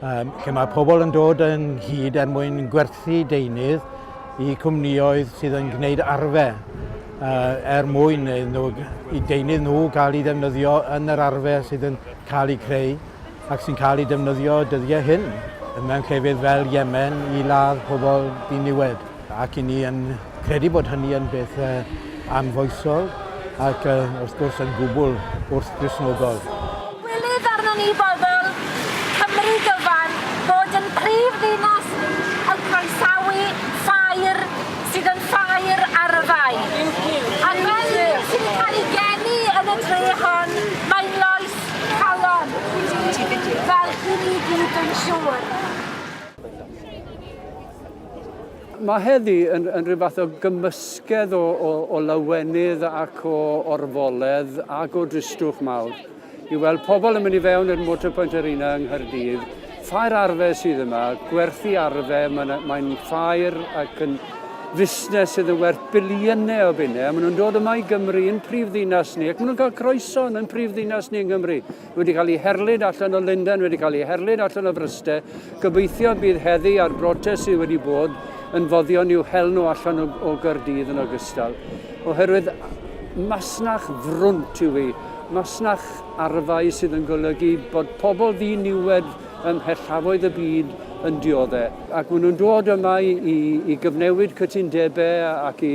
lle mae pobl yn dod yn hyd er mwyn gwerthu deunydd i cwmnioedd sydd yn gwneud arfer er mwyn nhw, i deunydd nhw gael ei ddefnyddio yn yr arfer sydd yn cael ei creu ac sy'n cael ei defnyddio dyddiau hyn mewn llefydd fel Yemen i ladd pobl diniwed. Ac i ni yn credu bod hynny yn beth anfoesol ac wrth gwrs yn gwbl wrth-Gristnogol. Ddywedodd arnon ni bobl Cymru gyfan fod yn prif ddinas yn croesawu ffair sydd yn ffair arfau. Ac fel un sydd yn cael ei geni yn y dre hon, mae'n loes calon i ni, fel i ni gyd dwi'n siŵr. Mae heddi yn, yn rhyw fath o gymysgedd o, o, o lawenydd ac o orfoledd ac o dristwch mawr i weld pobl yn mynd i fewn i'r Motorpoint Arena yng Nghaerdydd. Ffair arfe sydd yma, gwerthu arfe, mae'n mae ffair ac yn fusnes sydd yn werth biliynau o bunnau, a maen nhw'n dod yma i Gymru, yn prif ddinas ni, ac maen nhw'n cael croeso yn prif ddinas ni yng Nghymru. wedi cael ei herlid allan o Lundain, wedi cael ei herlid allan o Fryste. Gobeithio bydd heddi a'r brotest sydd wedi bod yn foddion i'w hel nhw allan o, o Gyrdydd yn ogystal. Oherwydd masnach frwnt yw hi, masnach arfau sydd yn golygu bod pobl ddiniwed ym mhellafoedd y byd yn dioddau. Ac maen nhw'n dod yma i, i, i gyfnewid cytundebau ac i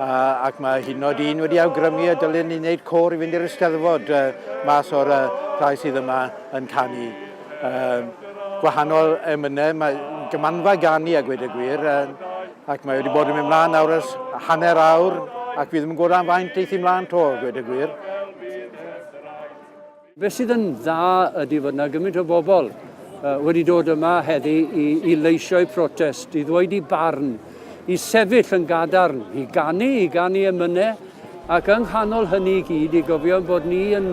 ac mae hyd yn oed un wedi awgrymu y dylen ni wneud côr i fynd i'r Eisteddfod mas o'r rhai sydd yma yn canu. Gwahanol emynau, mae gymanfa gan ni a gwed y gwir, ac mae wedi bod yn mynd mlaen nawr ers hanner awr, ac fi ddim yn gwybod am faint eithi mlaen to, gwed y gwir. Beth sydd yn dda ydy fod yna gymaint o bobl wedi dod yma heddi i, i leisio'u protest, i ddweud i barn, i sefyll yn gadarn, i ganu, i ganu emynau, ac yng nghanol hynny i gyd i gofio bod ni yn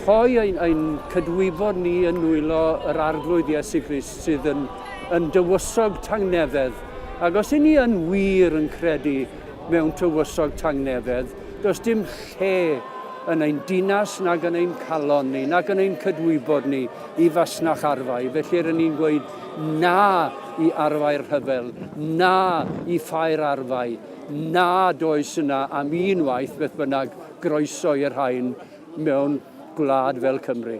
rhoi ein, ein cydwybod ni yn nwylo yr arglwydd Iesu Grist sydd yn, yn dywysog tangnefedd. Ac os i ni yn wir yn credu mewn tywysog tangnefedd, Does dim lle yn ein dinas nag yn ein calon ni, nag yn ein cydwybod ni i fasnach arfau. Felly rydyn ni'n gweud na i arfau'r rhyfel, na i ffair arfau, na does yna am un waith beth bynnag groeso i'r rhain mewn gwlad fel Cymru.